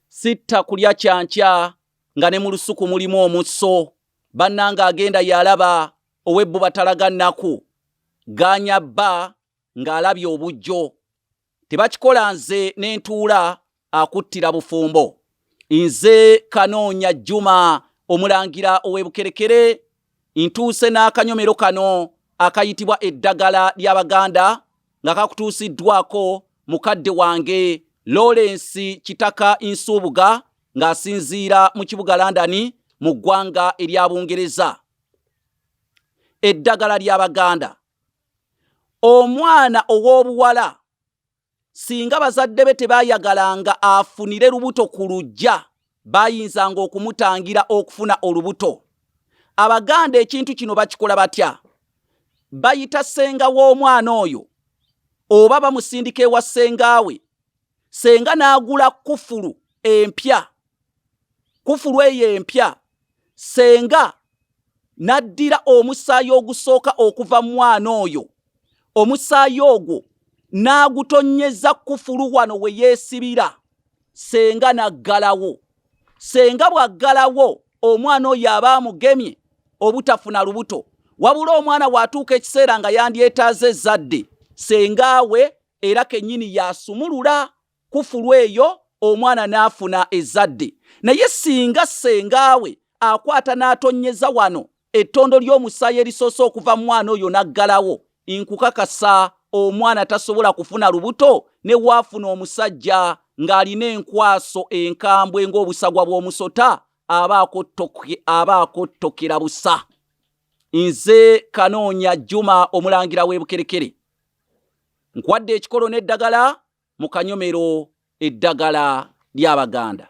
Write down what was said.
sitta kulya kyankya nga ne mu lusuku mulimu omusso bannanga agenda yalaba ow'ebbu batalaga nnaku ganya bba ng'alabye obujjo tebakikola nze ne ntuula akuttira bufumbo nze kanoonya jjuma omulangira ow'ebukerekere Ntuuse n'akanyomero kano akayitibwa eddagala ly'Abaganda nga kakutuusiddwako mukadde wange Lawrence Kitaka Nsuubuga ng'asinziira mu kibuga London mu ggwanga erya Bungereza. Eddagala ly'Abaganda. Omwana ow'obuwala Singa bazadde be tebaayagalanga afunire lubuto ku luggya, baayinzanga okumutangira okufuna olubuto. Abaganda ekintu kino bakikola batya? Bayita ssenga w'omwana oyo oba bamusindika ewa ssengaawe, ssenga n'agula kkufulu empya kufulu eyo empya senga n'addira omusaayi ogusooka okuva mu mwana oyo omusaayi ogwo n'agutonnyeza kufulu wano we yeesibira senga n'aggalawo senga bw'aggalawo omwana oyo aba amugemye obutafuna lubuto wabula omwana waatuuka ekiseera nga yandyetaaza ezzadde senga we era kennyini yaasumulula kufulu eyo omwana n'afuna ezzadde naye singa ssengaawe akwata n'atonnyeza wano ettondo ly'omusaayi erisoose okuva mu mwana oyo n'aggalawo nkukakasa omwana tasobola kufuna lubuto ne waafuna omusajja ng'alina enkwaso enkambwe ng'obusagwa bw'omusota aba akottokera busa nze kanoonya juma omulangira w'ebukerekere nkwadde ekikolo n'eddagala mu kanyomero eddagala ly'Abaganda.